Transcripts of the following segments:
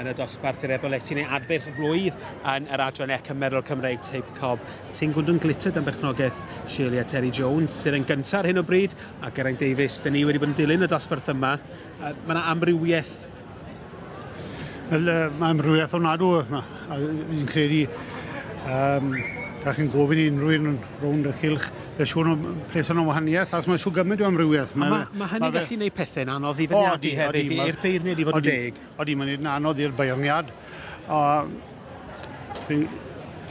yn y dosbarth i'r ebolesi neu adferch y flwydd yn yr adran ec yn meddwl Cymraeg Teip Cob. Ti'n gwndwn glittered am berchnogaeth Shirley a Terry Jones sydd yn gyntaf ar hyn o bryd a Geraint Davies. Dyn ni wedi bod yn dilyn y dosbarth yma. Mae yna amrywiaeth Wel, uh, mae amrywiaeth o'n nadw yma. A fi'n credu, um, da chi'n gofyn i unrhyw un rownd y cilch, fe siwn o'n pres o'n wahaniaeth, ac mae siw gymaint o amrywiaeth. Mae, mae, mae hynny'n gallu gwneud pethau'n anodd i fyniadu hefyd, i'r beirniad i fod yn deg. Odi, mae'n edrych anodd i'r beirniad.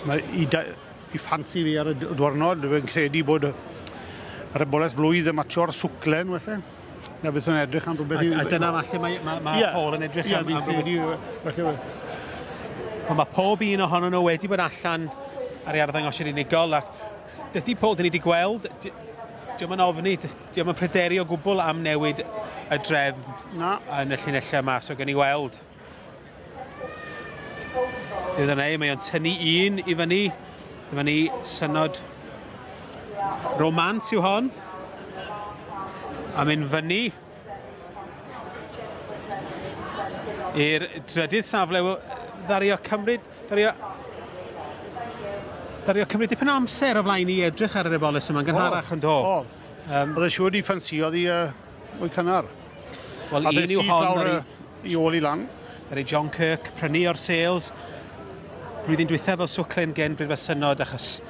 mae i, da, i ffansi fi ar y dwrnod, fe'n credu bod yr y boles flwydd y matio'r swclen, felly. Na beth o'n edrych am rhywbeth... A, a dyna falle mae, mae, mae yeah. Paul yn edrych yeah, am, am rhywbeth. Ond mae pob un ohono nhw wedi bod allan ar ei arddangosir unigol ac dydy Paul, dyn ni wedi gweld, diolch yn ofni, diolch yn pryderu o gwbl am newid y drefn na. yn y llinellau yma, so gen i weld. Dyna ni, mae o'n tynnu un i fyny. Dyma ni synod romans yw hon. A mynd fyny i'r drydydd safle. Ddario cymryd... Ddario... Ddario cymryd dipyn amser o flaen i edrych ar yr ebolus yma'n gynharach yn do. O, oedd e'n siŵr ni ffansio ddi... Mwy cynnar. Wel, un yw hon ar ei... i ôl i lan. Ar ei John Kirk, prynu o'r sales. Blwyddyn dwythaf fel swclen gen Bryd Fasynod, achos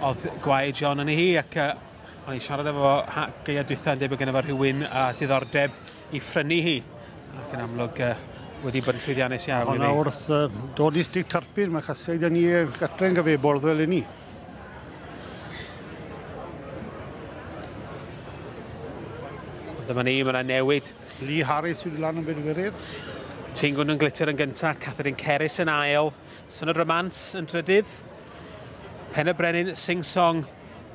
oedd gwae John yn ei hi, ac uh, o'n i'n siarad efo geia dwythaf yn debyg gen efo rhywun a diddordeb i phrynu hi. Ac yn amlwg, uh, wedi bod yn llwyddiannus iawn. Hwna wrth uh, dod i Stryt Tarpin, mae chasiaid yn ni gartre'n gyfebol fel i ni. Dyma ni, mae yna newid. Lee Harris wedi lan yn bedwerydd. Tingun yn glitter yn gyntaf, Catherine Ceris yn ail, Synod Romans yn drydydd, Pen y Brenin Sing Song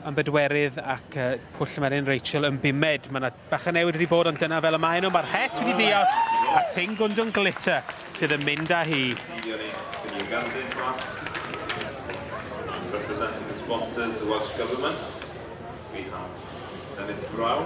yn bedwerydd ac uh, Pwll Melin Rachel yn bumed. Mae yna Bach o newid wedi bod ond dyna fel y maen nhw. Mae'r het wedi dios a Ting Gundung Glitter sydd yn mynd â hi. Representing the sponsors, the Welsh Government, we have Mr Nick Brown.